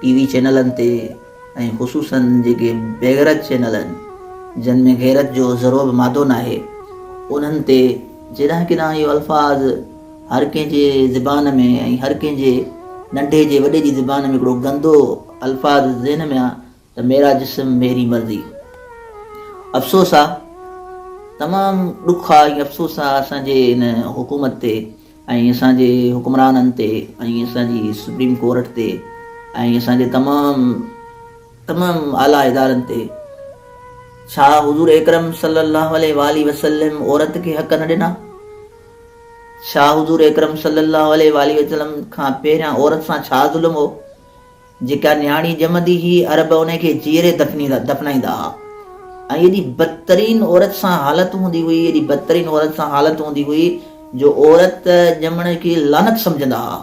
ٽي V چينلن تي ۽ خصوصاً جيڪي بيغرض چينل آهن جن ۾ غيرت جو ذرو به مادو ناهي انهن تي جيڏانهن ڪيڏانهن اهي الفاظ هر ڪنهن جي زبان ۾ ۽ هر ڪنهن جي ننڍي جي وڏي جي زبان ۾ هڪڙو گندو الفاظ ذهن ۾ ته ميرا جسم ميري مرضي افسوس آ تمام ڏک آ ۽ افسوس آ اسان جي ان حڪومت تي ۽ اسان جي حڪمرانن تي ۽ اسان جي سپريم ڪورٽ تي ۽ اسان جي تمام تمام اعليٰ ادارن تي ڇا حضور اڪرم صلي الله عليه وآله وسلم عورت کي حق نه ڏنا ڇا حضور اڪرم صلي الله عليه وآله وسلم کان پهريان عورت سان ڇا ظلم هو جيڪا نياڻي ڄمندي هئي، عرب ان کي جيئري دفنائيندا ها ۽ ايڏي بدترين عورت سان حالت هوندي هئي، ايڏي بدترين عورت سان حالت هوندي هئي جو عورت ڄمڻ کي لعنت سمجهندا ها.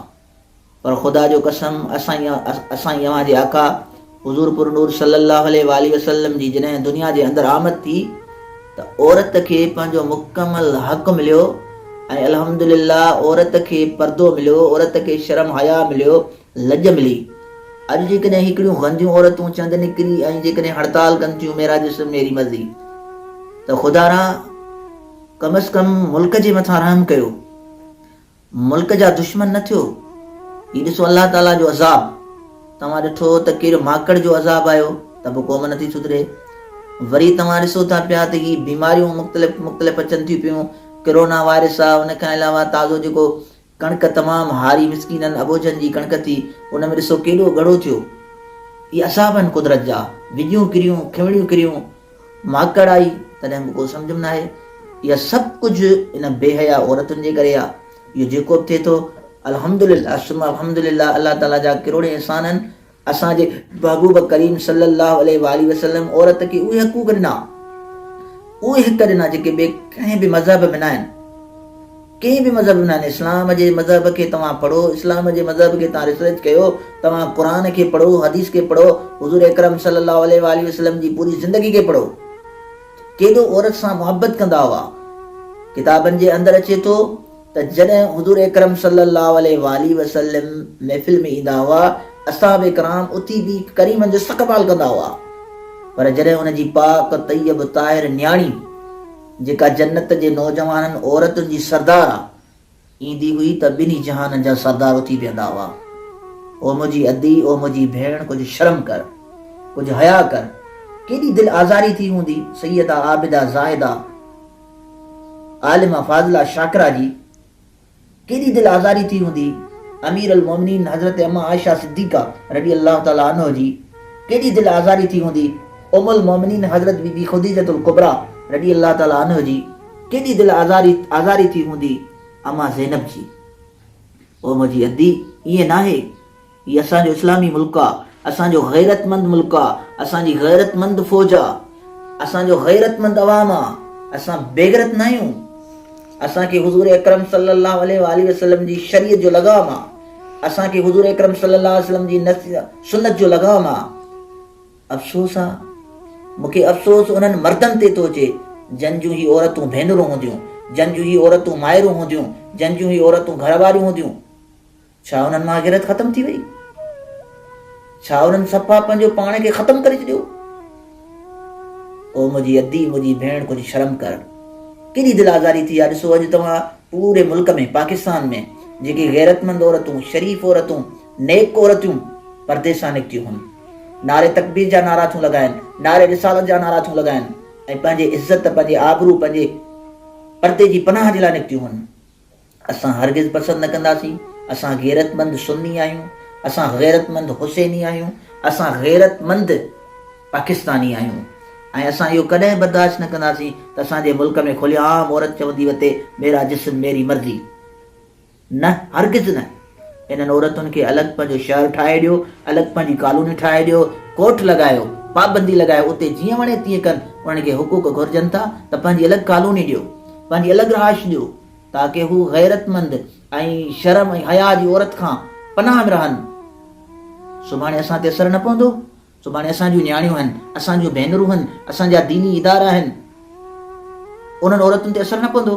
پر خدا جو قسم اسان ئي اوهان جي آقا حضور پرنور صلّي اللّٰه عليه واٰله وسلّم جي جڏهن دنيا جي اندر آمد ٿي ته عورت کي پنهنجو مڪمل حق مليو ۽ الحمد لله عورت کي پردو مليو، عورت کي شرم حياء مليو، لڄ ملي. اڄ جيڪڏهن هيڪڙيون غنديون عورتون چند نڪري ۽ جيڪڏهن هڙتال ڪن ٿيون ميرا جسم ميري مرضي ته خدا را ڪم از ڪم ملڪ جي مٿان رحم ڪيو ملڪ جا دشمن نه ٿيو هي ڏسو الله تعالي جو عذاب توهان ڏٺو ته ڪير ماڪڙ جو عذاب آيو ته به قوم نه ٿي سڌري وري توهان ڏسو ٿا پيا ته هي بيماريون مختلف مختلف اچن ٿيون پيون ڪرونا وائرس آ ان کان علاوه تازو جيڪو ڪڻڪ تمام هاري مسڪينن اٻوجهن جي ڪڻڪ ٿي، ان ۾ ڏسو ڪيڏو ڳڙو ٿيو. اهي عذاب آهن قدرت جا، وڄيون ڪريون، کنوڻيون ڪريون، ماڪڙ آئي، تڏهن به ڪو سمجهه ۾ ناهي. اها سڀ ڪجهه ان بي حيا عورتن جي ڪري آهي. اهو جيڪو به ٿئي ٿو، الحمدلله ثم الحمدلله، الله تعاليٰ جا ڪروڙين احسان آهن، اسان جي محبوب ڪريم صلّي اللّٰه عليه واٰله وسلّم عورت کي اهي حقوق ڏنا، اهي حق ڏنا جيڪي ٻئي ڪنهن به مذهب ۾ ناهن. ڪنهن به مذهب ۾ ناهن. اسلام جي مذهب کي توهان پڙهو، اسلام جي مذهب کي توهان ريسرچ ڪيو، توهان قرآن کي پڙهو، حديث کي پڙهو، حضور اڪرم صلّي اللّٰه عليه واٰله وسلّم جي پوري زندگي کي پڙهو. ڪيڏو عورت سان محبت ڪندا هئا. ڪتابن جي اندر اچي ٿو. ته جڏهن حضور اڪرم صلي الله عليه واٰله وسلم محفل ۾ ايندا هئا، اصحابه ڪرام اٿي بيهي ڪريمن جو استقبال ڪندا هئا، پر جڏهن ان جي پاڪ، طيب، طاهر نياڻي، جيڪا جنت جي نوجوانن عورتن جي سردار آ، ايندي هئي ته ٻنهي جهانن جا سردار اٿي بيهندا هئا. او منهنجي ادي، او منهنجي ڀيڻ ڪجهه شرم ڪر، ڪجهه حياء ڪر، ڪيڏي دل آزاري ٿي هوندي سيده عابده زاهده، عالمه فاضله شاڪره جي ڪيڏي دل آزاري ٿي هوندي، امير المومنين حضرت امه عائشه صديقه رضي الله تعالٰي عنه جي ڪيڏي دل آزاري ٿي هوندي، ام المومنين حضرت بي بي خديجة الڪبريٰ رضي الله تعالٰي عنه جي ڪيڏي دل آزاري آزاري ٿي هوندي، امه زينب جي. او منهنجي ادي! ائين ناهي. هي اسان جو اسلامي ملڪ آ اسان جو غيرتمند ملڪ آ اسان جي غيرتمند فوج آ اسان جو غيرتمند عوام آ اسان بيغرت ناهيون اسان کي حضور اڪرم صلي الله عليه واٰله وسلم جي شريعت جو لغام آ اسان کي حضور اڪرم صلي الله عليه وسلم جي سنت جو لغام آ افسوس آ مون کي افسوس انهن مردن تي ٿو اچي جن جون هي عورتون ڀينرون هونديون جن جون هي عورتون مائرون هونديون جن جون هي عورتون گهر واريون هونديون ڇا انهن مان غيرت ختم ٿي وئي؟ ڇا انهن صفا پنهنجو پاڻ کي ختم ڪري ڇڏيو؟ او منهنجي ادي، منهنجي ڀيڻ ڪجهه شرم ڪر. ڪيڏي دل آزاري ٿي آ، ڏسو اڄ توهان پوري ملڪ ۾ پاڪستان ۾ جيڪي غيرتمند عورتون، شريف عورتون، نيڪ عورتيون پرديسان نڪتيون هن نعري تڪبير جا نعرا ٿيون لڳائن، نعري رسالت جا نعرا ٿيون لڳائن ۽ پنهنجي عزت، پنهنجي آبرو، پنهنجي پردي جي پناهه جي لاء نڪتيون هن. اسان هرگز پسند نه ڪنداسين، اسان غيرتمند سني آهيون، اسان غيرتمند حسيني آهيون، اسان غيرتمند پاڪستاني آهيون ۽ اسان اهو ڪڏهن برداشت نه ڪنداسين ته اسان جي ملڪ ۾ کلي عام عورت چوندي وتي ميرا جسم ميري مرضي. نه هرگز نه. انهن عورتن کي الڳ پنهنجو شهر ٺاهي ڏيو، الڳ پنهنجي ڪالوني ٺاهي ڏيو، ڪوٽ لڳايو، پابندي لڳايو اتي جيئن وڻي تيئن ڪن، انهن کي حقوق گهرجن ٿا ته پنهنجي الڳ ڪالوني ڏيو، پنهنجي الڳ رهائش ڏيو، تاڪه هو غيرتمند ۽ شرم ۽ حيا جي عورت کان پناهه ۾ رهن. سڀاڻي اسان تي اثر نه پوندو. سڀاڻي اسان جون نياڻيون آهن، اسان جون ڀينرون آهن، اسان جا ديني ادارا آهن. انهن عورتن تي اثر نه پوندو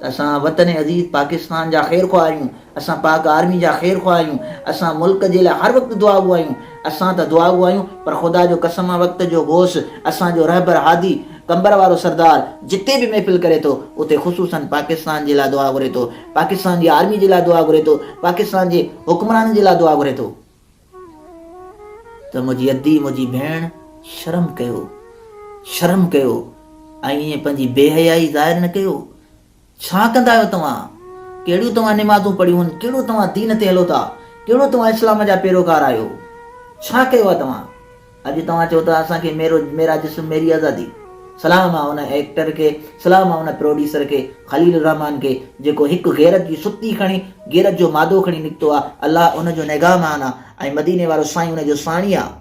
ته اسان وطن عزيز پاڪستان جا خير خواهه آهيون، اسان پاڪ آرمي جا خير خواهه آهيون، اسان ملڪ جي لاء هر وقت دعاگو آهيون. اسان ته دعاگو آهيون پر خدا جو قسم آهي وقت جو غوث اسان جو رهبر هادي قمبر وارو سردار جتي به محفل ڪري ٿو اتي خصوصا پاڪستان جي لاء دعا گهري ٿو، پاڪستان جي آرمي جي لاء دعا گهري ٿو، پاڪستان جي حڪمرانن جي لاء دعا گهري ٿو ته منهنجي ادي منهنجي ڀيڻ شرم ڪيو شرم ڪيو ۽ ائين پنهنجي بي حيائي ظاهر نه ڪيو. ڇا ڪندا آهيو توهان؟ ڪهڙيون توهان نمازون پڙهيون آهن؟ ڪهڙو توهان دين تي هلو ٿا؟ ڪهڙو توهان اسلام جا پيروڪار آهيو؟ ڇا ڪيو آهي توهان؟ اڄ توهان چئو ٿا اسان کي ميرو ميرا جسم ميري آزادي. سلام آهي ان ايڪٽر کي، سلام آهي ان پروڊيوسر کي، خليل الرحمان کي، جيڪو هڪ غيرت جي ستي کڻي، غيرت جو مادو کڻي نڪتو آهي. الله ان جو نگهبان آهي ۽ مديني وارو سائين ان جو ساڻي آهي.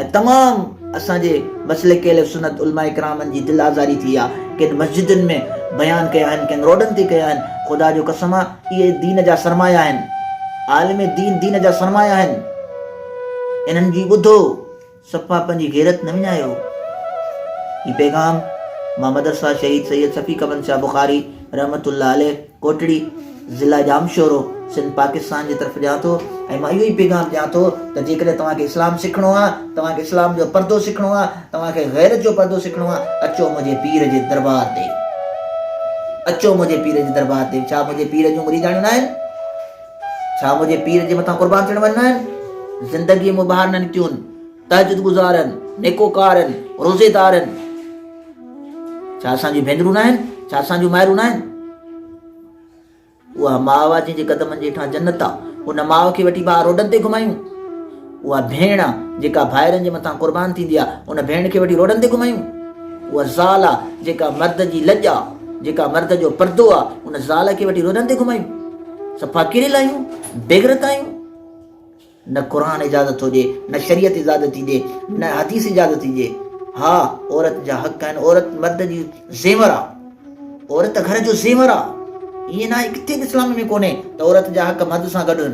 ۽ تمام اسان جي مسلڪ اهل سنت علماء ڪرامن جي دل آزاري ٿي آ ڪن مسجدن ۾ بيان ڪيا آهن ڪن روڊن تي ڪيا آهن خدا جو قسم آ اهي دين جا سرمايا آهن عالم دين دين جا سرمايا آهن انهن جي ٻڌو صفا پنهنجي غيرت نه وڃايو هي پيغام مان مدرسه شهيد سيد شفيق بن شاهه بخاري رحمت الله عليه ڪوٽڙي، ضلع ڄامشورو، سنڌ پاڪستان جي طرف ڏيان ٿو ۽ مان اهو ئي پيغام ڏيان ٿو ته جيڪڏهن توهان کي اسلام سکڻو آهي، توهان کي اسلام جو پردو سکڻو آهي، توهان کي غيرت جو پردو سکڻو آهي، اچو منهنجي پير جي دربار تي. اچو منهنجي پير جي دربار تي. ڇا منهنجي پير جون مريداڻيون ناهن؟ ڇا منهنجي پير جي مٿان قربان ٿيڻ واريون ناهن؟ زندگيء مون ٻاهر نه نڪتيون. تهجد گذارن، نيڪوڪارن، روزيدارن. ڇا اسان جون ڀينرون ناهن؟ ڇا اسان جون مائرون ناهن؟ اها ماء آ جنهن جي قدمن جي هيٺان جنت آ ان ماء کي وٺي ڀاء روڊن تي گهمايون اها ڀيڻ آ جيڪا ڀائرن جي مٿان قربان ٿيندي آ ان ڀيڻ کي وٺي روڊن تي گهمايون اها زال آ جيڪا مرد جي لڄ آ جيڪا مرد جو پردو آ ان زال کي وٺي روڊن تي گهمايون صفا ڪهڙي لايون بيغرت آيون نه قرآن اجازت ٿو ڏي، نه شريعت اجازت ٿي ڏي، نه حديث اجازت ٿي ڏي. ها عورت جا حق آهن، عورت مرد جي زيور آ، عورت گهر جو زيور آ، ائين ناهي ڪٿي به اسلام ۾ ڪونهي ته عورت جا حق مرد سان گڏ هن.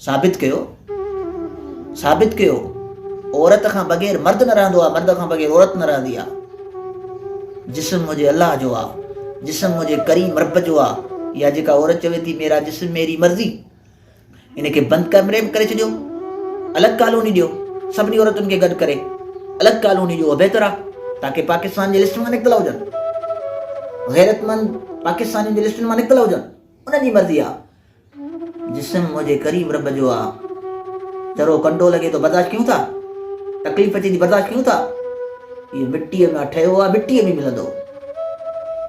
ثابت ڪيو، ثابت ڪيو، عورت کان بغير مرد نه رهندو آ، مرد کان بغير عورت نه رهندي آ. جسم منهنجي الله جو آ، جسم منهنجي ڪريم رب جو آ، اها جيڪا عورت چوي ٿي ميرا جسم ميري مرضي، ان کي بند ڪمري ۾ ڪري ڇڏيو الڳ ڪالوني ڏيو سڀني عورتن کي گڏ ڪري الڳ ڪالوني ڏيو بهتر آ تاڪي پاڪستان جي لسٽن مان نڪتل هجن غيرتمند پاڪستانين جي لسٽن مان نڪتل هجن ان جي مرضي آ جسم منهنجي ڪريم رب جو آ ذرو ڪنڊو لڳي ٿو برداشت ڪيون ٿا تڪليف اچي ٿي برداشت ڪيون ٿا اهو مٽيء ۾ ٺهيو آ مٽيء ۾ ملندو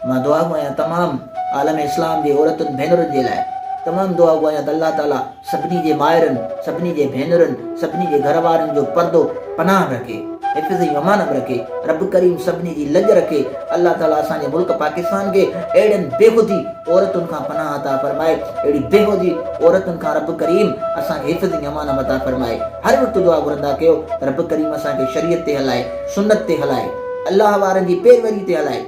مان دعا گو آهيان تمام عالم اسلام جي عورتن ڀينرن جي لاء تمام دعا گو آهيان ته الله تعالي سڀني جي مائرن سڀني جي ڀينرن سڀني جي گهر وارن جو پردو پناهه رکي حفظ ۽ امان م رکي رب ڪريم سڀني جي لڄ رکي الله تعالي اسان جي ملڪ پاڪستان کي اهڙين بيهودي عورتن کان پناهه عطا فرمائي اهڙي بيهودي عورتن کان رب ڪريم اسان کي حفظ ۽ امان م عطا فرمائي هر وقت دعا گهرندا ڪيو ته رب ڪريم اسان کي شريعت تي هلائي سنت تي هلائي، الله وارن جي پيروري تي هلائي،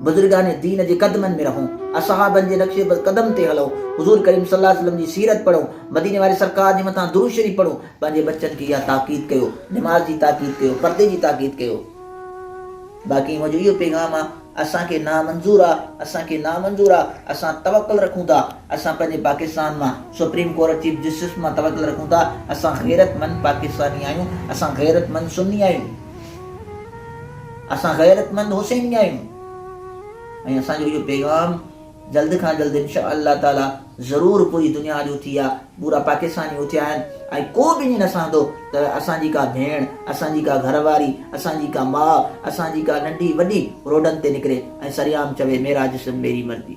بزرگان دين جي قدمن ۾ رهون، اصحابن جي نقش قدم تي هلون، حضور ڪريم صلي الله عليه وسلم جي سيرت پڙهون، مديني واري سرڪار جي مٿان درود شريف پڙهون، پنهنجي ٻچن کي اها تاڪيد ڪيو، نماز جي تاڪيد ڪيو، پردي جي تاڪيد ڪيو. باقي منهنجو اهو پيغام آ. اسان کي نامنظور آ اسان کي نامنظور آ اسان توڪل رکون ٿا اسان پنهنجي پاڪستان مان سپريم ڪورٽ چيف جسٽس مان توڪل رکون ٿا اسان غيرت مند پاڪستاني آهيون اسان غيرت مند سني آهيون اسان غيرت مند حسيني آهيون ۽ اسان جو اهو پيغام جلد کان جلد انشاء الله تعالٰي ضرور پوري دنيا جو ٿي آ پورا پاڪستان جي اٿيا آهن ۽ ڪو به ائين نه سهندو ته اسان جي ڪا ڀيڻ اسان جي ڪا گهر واري اسان جي ڪا ماء اسان جي ڪا ننڍي وڏي روڊن تي نڪري ۽ سريعام چوي ميرا جسم ميري مرضي.